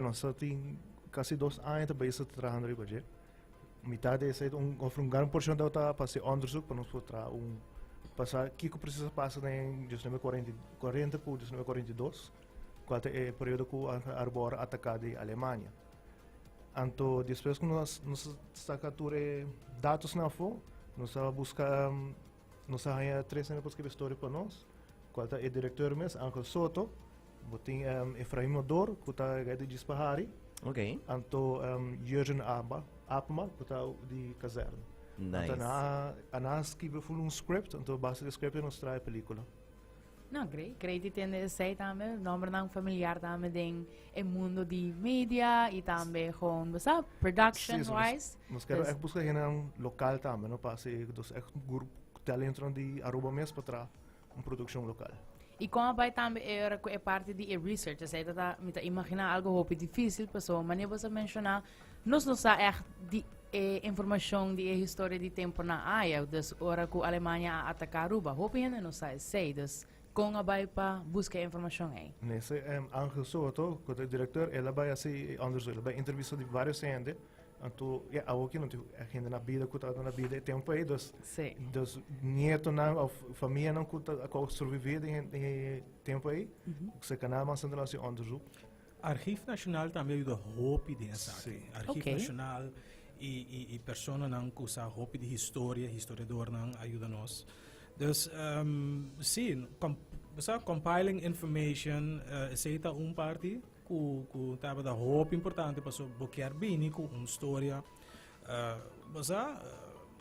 Nos a tin casi dos aña ta bezig ta trahando riba dje. Mitad de ese, un, of un gran porcion de ta pa hacer onderzoek, pa nos por tra un, pa sa kiko precies a pasa den 1940, 40 cu 1942, cual ta e periodo cu Arbor a ataca di Alemania. Anto, despues cu nos, nos a saca tur e datos na afo, nos a busca, Nos a haña tres hende pa skirbi e storia pa nos, kual ta e direktor mes, Angel Soto, bo tin Efraim Odor, ku ta e guy di Djis Pahari, anto Jurgen Aba, Apma, ku ta di Kazern. Anto anan a skirbi full un script, anto base di e script nos traha e pelikula. No, Grey. Grey di tende esei tambe, nombernan familiar tambe den e mundo di media y tambe gewoon, besap, production sí, wise. Nos, nos kere echt busca hena local tambe, no pa si, dus echt grup talentron di Aruba mes pa tra un produccion local. Y kon a bai tambe er ku e parti di e research, esei ta ta, mi ta imagina algo hopi dificil, paso mane boso menciona, Nos no sa ègt di e informashon di e historia di tempu na Ajaw. Dus ora ku Alemania a ataká Aruba, hopi hende no sa esei. Dus kon a bai pa buska e informashon ei? Minister Angel Soto, ku ta e direktor, el a bai hasi e òndersuk, el a bai entrevista di vários hende. Anto, ya awo aki no tin hende na bida ku tabata na bida e tempu ei. Dus, dus nietonan òf famianan ku ta a sobrevivir den e tempu ei, serkanan a manda nan su òndersuk. Archief Nacional tambe a yuda hopi den esaki. Sí. Archief Ok. Nacional y, y, y personanan cu sa hopi di historia, historiadornan a yuda nos. Dus, ehm, sí, com, bo sa, compiling information, eh, esey ta un parti cu, cu tabata hopi importante pasobra bo kier bini cu un storia, eh, bo sa, eh,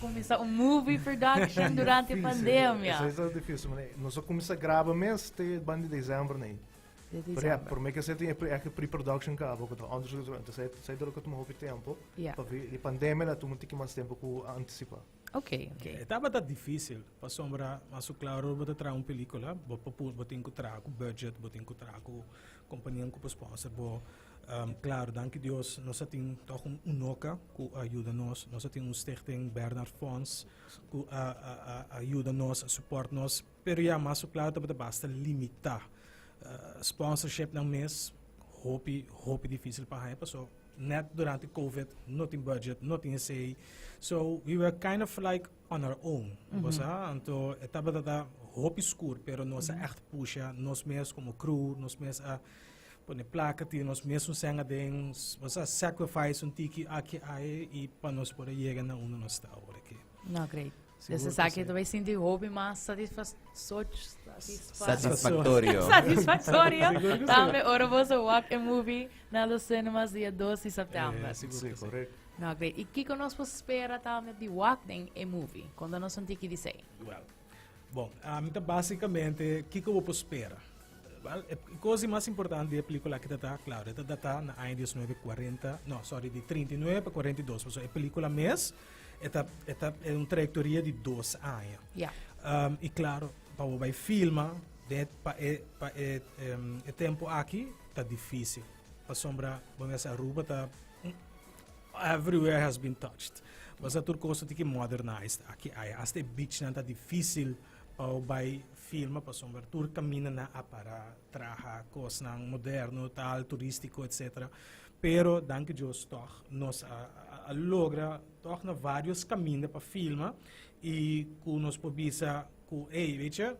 Kuminsá un movie production durante pandemia. Esei ta difísil, mane. Nos a kuminsá graba mes te banda di desèmbr nei. Di desèmbr. Pero ya, promé ke esei tin e pre, aki pre-production kaba, ku ta under shoot atrás. Entonces esei, esei ta lo tuma hopi tempu. Ya. Pasobra di pandemia la tuma un tiki mas tempu ku a antisipá. Ok, ok. E tabata difísil, pasobra masu klaru bo ta traha un pelíkula, bo pa pu, bo tin ku traha ku budget, bo tin ku traha ku kompanianan ku por sponsor bo. Um, klaar, danki Dios, nos a tin toch un unoka ku a yuda nos. Nos a tin un stichting Bernard Fonds ku a, a, a, a yuda nos, a support nos. Pero ja, mas su plata bata basta limita. Uh, sponsorship dan mes, hopi, hopi difícil pa haya, paso net durante COVID, no tin budget, no tin esei. So, we were kind of like on our own. Mm -hmm. Anto, etapa data hopi skur, pero nos mm -hmm. a echt pusha, nos mes como crew, nos mes a... Uh, Pone plaka tin nos mesmo senga den nos a sacrifice un tiki aki ai y pa nos por yega na unda nos ta ahora aquí. No, great. Dus is aki tu sinti hopi mas satisfactorio. satisfactorio. Tambe ora boso walk a movie na los cinemas dia 2 di september. Sí, correct. No, great. Y kiko nos por spera tambe di walk den a movie? Conta nos un tiki di sei. Well. Bon, ami ta básicamente kiko bo por spera. Wel, e cos di mas importante di e película aki ta ta, claro, e ta datá na aña 1940, no, sorry, di 39 pa 42, pasobra e película mes e ta, e ta, e un trayectoria di dos aña. Ya. Um, y claro, pa bo bai filma, den, pa e, pa e, em, e tempo aki ta difícil. Pasobra, bo mester Aruba ta, Everywhere has been touched. Basta tur cosa tin ki modernized aki aya. Hasta e beachnan ta dificil pa u bai filma pasobra tur caminanan a para traha cosnan moderno tal turistico etc. Pero danki Dios tog nos a a logra tog na varios caminda pa filma y cu nos por bisa cu ey weet je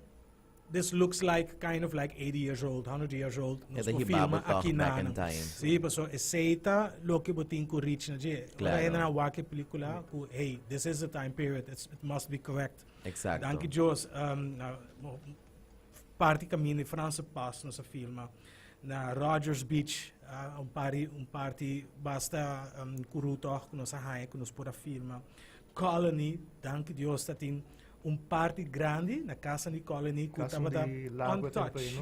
This looks like kind of like 80 years old, 100 years old. E ta hibá bo tòg back in time. Sí, paso esei ta loke bo tin ku reach na dje. Claro. Ora hende nan a wak e pelíkula ku hey, this is the time period, it's, it must be correct. Exacto. Danki Dios, um, na, mo- parti kaminda di Franse Pas nos a filma na Rogers Beach, ah, un pari, un parti basta um, kuru tòg ku nos a haña ku nos por a filma. Colony, danki Dios, ta tin Un parti grandi na kasanan di Colony ku tabata untouched.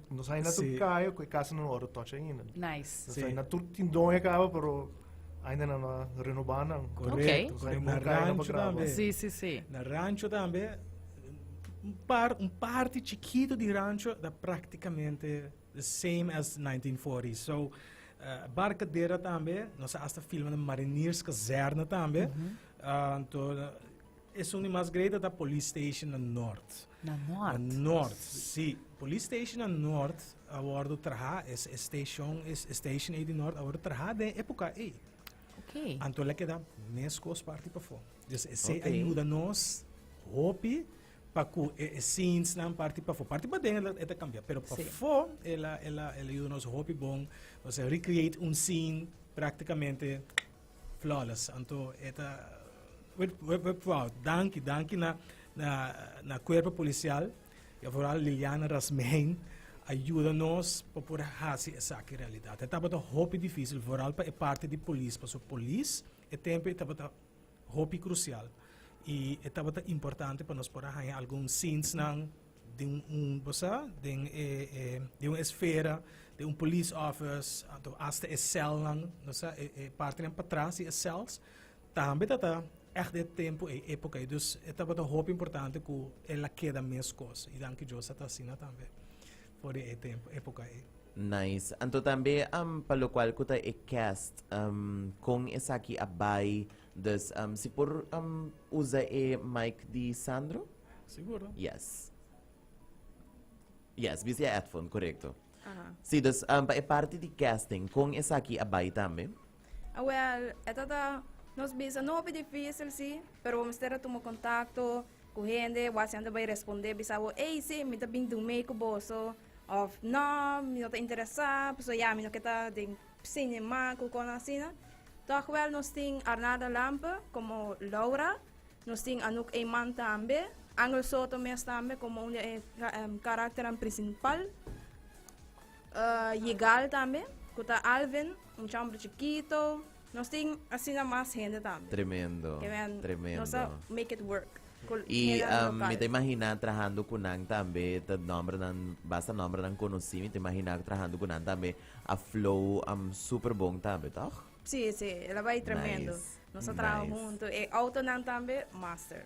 Nos ainda tur kaya ku e kasa no wòrdu touch ainda. Nice. Nos ainda tur tin done kaba pero ainda nan no a renobá nan. Korekto. Nos ainda bon kaya nan pa graba. Si, si, si. Na rancho tambe un parti chikitu di rancho ta praktikamente. The same as nineteen forty so barkadera tambe nos a hasta filma den mariniers kazerne tambe anto esun di mas great ata police station na nort Na nort? Na nort si police station na nort a wordo traha e station station ei di nort a wordo traha den e epoca ei okay anto el a keda meskos parti pafo dus esei a yuda nos hopi pa ku e e scenes nan parti pafó parti paden e ta e ta kambia pero pafó el a el a el a yuda nos hopi bon osea recreate un scene práktikamente flawless anto e ta we we we proud danki danki na na na kuerpo polisial i aforal Liliana Rasmijn a yuda nos pa por a hasi esaki realidat e tabata hopi difísil foral pa e parti di polis paso polis e tempo e tabata hopi crucial y e tabata importante pa nos por a haña algun zinsnan den un bo sa den e e den un esfera den un police office anto hasta e celnan bo sa e e partenan patras di e cells tambe tata echt den e tempo ey epoca ey dus e tabata hopi importante cu el a keda meskos y danki Dios ata asina tambe. For di e tempo, epoca ei. Nice. Anto tambe um pa locual cu ta e cast um con esaki a bay dus um si por um usa e mic di Sandro? Seguro. Yes. Yes, bisa e headphone, correcto. Si, dus um pa e parti di casting con esaki a bay tambe? Awel, e ta ta nos bisa no hopi difícil si, pero bo mester a tuma kontakto ku hende, bo hasi hende bai respondé bisa bo, ei sí, mi ta bin durmei ku boso, òf nò, mi no ta interesá, pasobra ya mi no ke ta den sinema ku kon asina. Tòg wèl nos tin Arnada Lampe komo Laura, nos tin Anouk Eyman tambe, Angel Soto mes tambe komo un di e karakternan prinsipal. Yigal tambe cu ta Alvin un chambro chikito nos tin asina mas hende tambe. Tremendo tremendo. Nos a make it work cu hende local. Y mi ta imagina trahando cu nan tambe ta nombernan basta nombernan conoci mi ta imagina trahando cu nan tambe a flow super bon tambe toch? Si si elabai tremendo. Nice nos a traha nice. hunto y autonan tambe master.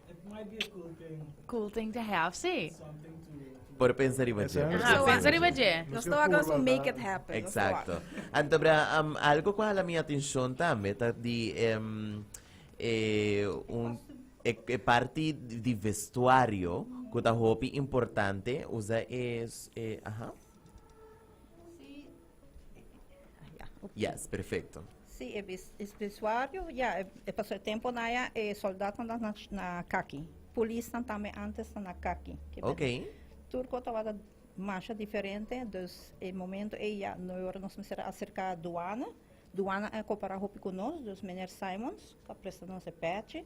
Cool thing to have, sí. Por pensa riba dje. Aha, Zo pensa a- riba dje. Nos ta wak also make it happen. nos ta wak. Exacto. Antobra, am, algo cu hala mi atencion tambe ta di em, e, un, e, e parti di vestuario cu ta hopi importante. Usa e, s- e, aha. Yes, perfecto. Sí, e bis, e bisuario, ya, e, e pasó e tempo na ya, e soldato na, na, na kaki. Polis na tambe antes na kaki. Ke Ok. Turco tabata masha diferente, dus e momento e ya no ora nos mester acerca duana. Duana a coopera hopi cu nos, dus meneer Simons ta presta nos e pechi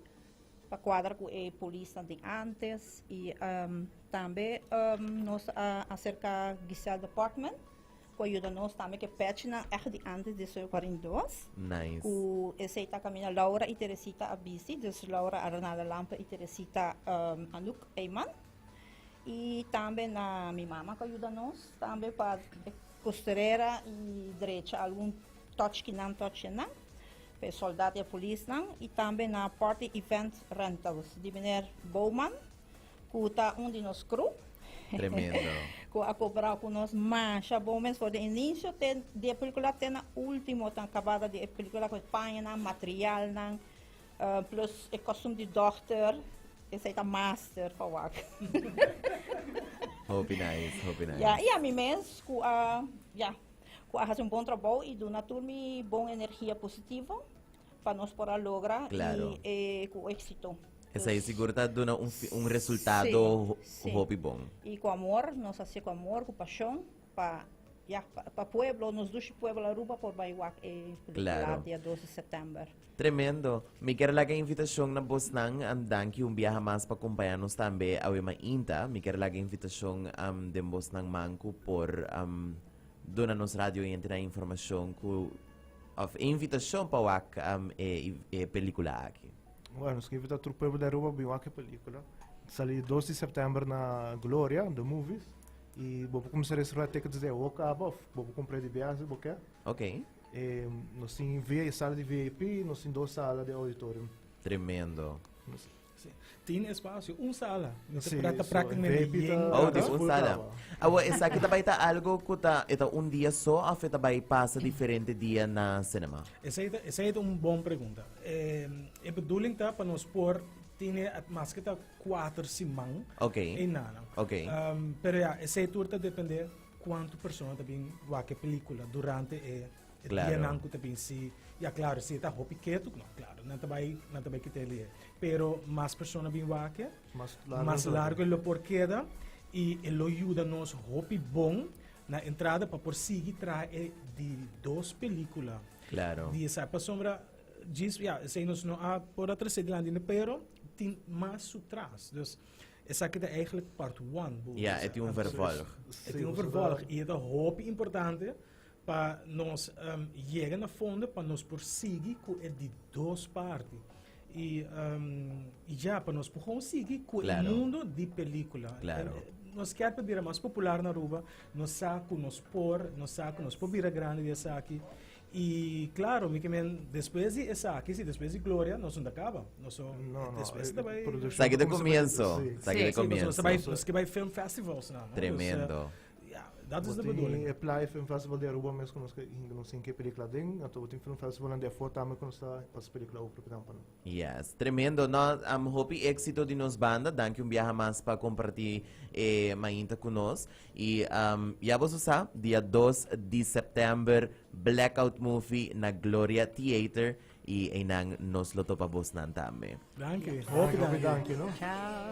pa cuadra cu e polis na di antes y um, tambe um, nos a acerca Giselle Department. Cu a yuda nos tambe cu e pechnan echt di antes di su cuarenta y dos. Nice. Cu esey ta caminda Laura y Teresita a bisti. Dus Laura Arnala Lampe y Teresita Anouk Eyman. Y tambe na mi mama cu a yuda nos tambe pa e costurera y drecha algun touchki nan, touchje nan. Pa e soldad y e polisnan. Y tambe na Party Event Rentals di meneer Bowman. Ku ta un di nos kru. Tremendo. ku a kobrá ku nos masha bon mes for di inisio te di e pelikula te na último ta kabada di e pelikula ku e pañanan materialnan plus e kostum di dòkter esei ta master pa wak. Hopi nice, hopi nice. Ya i ami mes ku a ya ku a hasi un bon trabou i duna tur mi bon energia positivo. pa nos por a logra Claro. y eh, cu éxito. Esei Dus, sigur ta duna un, fi- un resultado Sí, ho- sí. hopi bon. y cu amor, nos hace cu amor, cu pasion, pa, ya, pa, pa pueblo, nos dushi pueblo Aruba por bay wak e película Claro. dia 2 de septiember. Tremendo. Mi ker laga invitacion na bosnan. Am danki un biaha mas pa cumpaña nos tambe awe mainta. Mi ker laga invitacion am den bosnan man cu por am duna nos radio oyentenan informacion cu Of e invitacion pa wak e pelicula aki. Bueno, nos ta invita tur pueblo di Aruba pa bin wak e pelicula. Ta sali dos di september na Gloria, The Movies. Y bo por cuminsa reserva tickets desde awo caba of bo por compra debia si bo kier. Ok. Nos tin sala di VIP y nos tin dos sala di auditorium. Tremendo. Tin espacio, un sala. Mi ta prata prácticamente di yen. Oh, di un sala. Awo, esaki ta bai ta algo ku ta, e ta un dia so òf e ta bai pasa diferente dia na sinema? Esei ta, esei ta un bon pregunta. E bedoeling ta pa nos por tene maske ta kuater siman ei nanan. Pero ya, esei tur ta depende kuantu persona ta bin wak e pelíkula durante e. E dianan ku ta bin si, ya klaro, si e ta hopi ketu, no, klaro, nan ta bai, nan ta bai kita e leer. Pero mas persona bin wak, mas largu e lo por keda i e lo yuda nos hopi bon na entrada pa por sigui traha e di dos pelikula di esaki. Pasobra djis, ya, esei nos no a por a tras'é dilanti ne, pero tin mas su tras. Dus, esaki ta eigentlik part one. Ya, e tin un vervolg. E tin un vervolg i e ta hopi importante Pa nos yega na fondo pa nos por sigui ku e di dos parti i i ja pa nos por kon sigui ku e mundo di pelikula nos kier pa bira mas popular na Aruba nos sa ku nos por nos sa ku nos por bira grandi di esaki i klaro mi kimen despues di esaki si despues di gloria nos no ta kaba nos so despues ta bai esaki ta komienso esaki ta komienso nos ke bai film festivals naman. Dat is de bedoeling. Bo tin e Playa Film Festival di Aruba mes ku nos ka hinka nos tin ke pelikula aden. Anto bo tin film festivalnan di afor tambe ku nos ta pasa pelikula awe propinan pa no. Yes, tremendo. No, am, hopi éksito di nos banda. Danki un biaha mas pa kompartí e mainta ku nos. I am, ya boso sa, dia dos di sèptèmber, Blackout Movie na Gloria Theater. Y eynan nos lo topa bosnan tambe. Danki, hopi danki. Ciao.